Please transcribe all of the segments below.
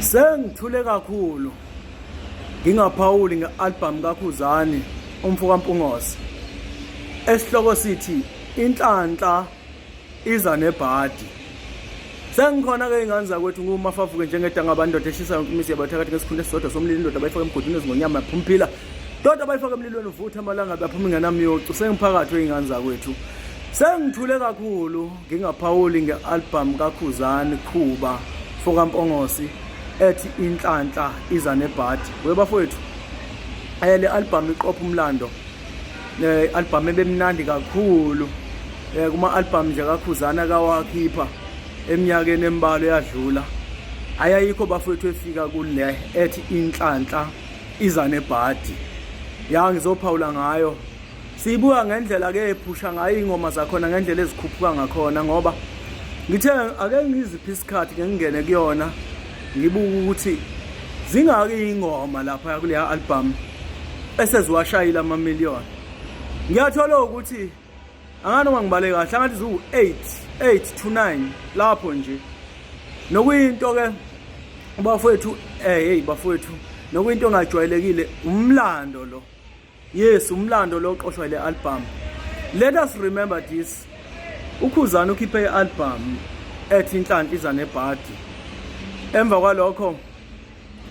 Sengithule kakhulu ngingaphawuli nge-albhamu kaKhuzani umfo kaMpungose esihloko sithi inhlanhla iza nebhadi sengikhona ke ingane zakwethu ngumafavuke njengedanga abandoda eshisa yonke imizi yabathakathi ngesikhunda esisodwa somlilo indoda bayifaka emgodini ezingonyama yaphumpila ndoda bayifaka emlilweni uvutha amalanga baphuma ingenamyocu sengiphakathi wey'ngane zakwethu sengithule kakhulu Ngingaphawuli nge-albhamu kaKhuzani Khuba fokaMpongosi ethi Inhlanhla iza nebhadi. We bafowethu, eh, le albhamu iqopha umlando eh, i-albhamu ebemnandi kakhulu eh, kuma-albhamu nje kaKhuzani akawakhipha eminyakeni emibalo eyadlula ayayikho bafowethu efika kule ethi inhlanhla iza nebhadi ya ngizophawula ngayo Siyibuka ngendlela ke ephusha ngayo ingoma zakhona ngendlela ezikhuphuka ngakhona ngoba ngithe ake ngiziphi isikhathi ke ngingene kuyona ngibuka ukuthi zingaki ingoma lapha kule album eseziwashayile ama million ngiyathola ukuthi anganoma ngibale kahle angathi ziwu 8 8 to 9 lapho nje nokuyinto ke bafowethu eh hey bafowethu nokuyinto engajwayelekile umlando lo Yes, umlando lo qoshwa le album. Let us remember this. UKhuzani ukhiphe i-album ethi inhlanhla iza nebhadi. Emva kwalokho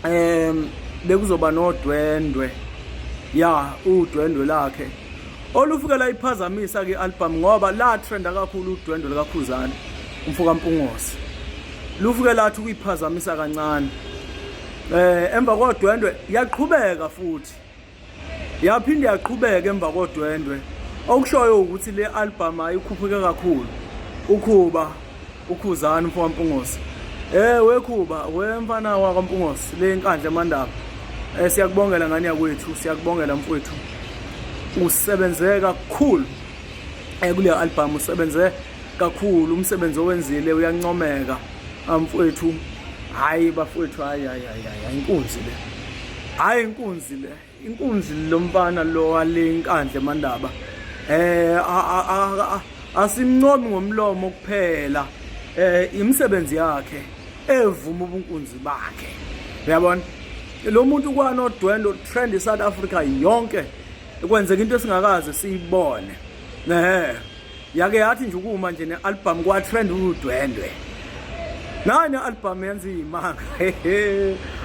em bekuzoba nodwendwe. Ya, udwendwe lakhe. Olufuke la iphazamisa ke album ngoba la trenda kakhulu udwendwe likaKhuzani umfoka Mpungosi. Lufuke lathi kuyiphazamisa kancane. Eh emva kodwendwe yaqhubeka futhi Yaphinde yaqhubeka emva kodwendwe okushoyo ukuthi le album ayikhuphuke kakhulu ukhuba ukhuzani mfo waMpungosi eh wekhuba wemfana wakwaMpungosi le inkandla emandaba eh siyakubongela ngani yakwethu siyakubongela mfowethu usebenze kakhulu ekule eh, album usebenze kakhulu umsebenzi owenzile uyancomeka amfwethu hayi bafwethu hayi hayi hayi inkunzi le hayi inkunzi le inkunzi lomfana lo wale inkandle mandaba eh asimncomi ngomlomo kuphela eh imisebenzi yakhe evuma ubunkunzi bakhe uyabona lo muntu kwanodwendo trend South Africa yonke kwenzeka into esingakaze siyibone eh yake yathi nje ukuma nje ne-albhamu kwatrend udwendwe nayo ne-albhamu yenza iyimanga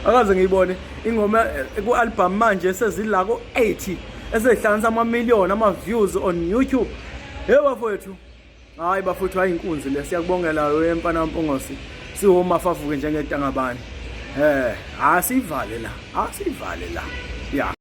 akaze ngiyibone ingoma eh, ku-albhamu manje esezila ko-80 esezihlanganisa ama-million ama-views on youtube hey bafowethu hhayi bafowethu hhayi inkunzi le siyakubongela wemfana mpongosi siwomafavuke njengedangabani um asiyivale la asiyivale la ya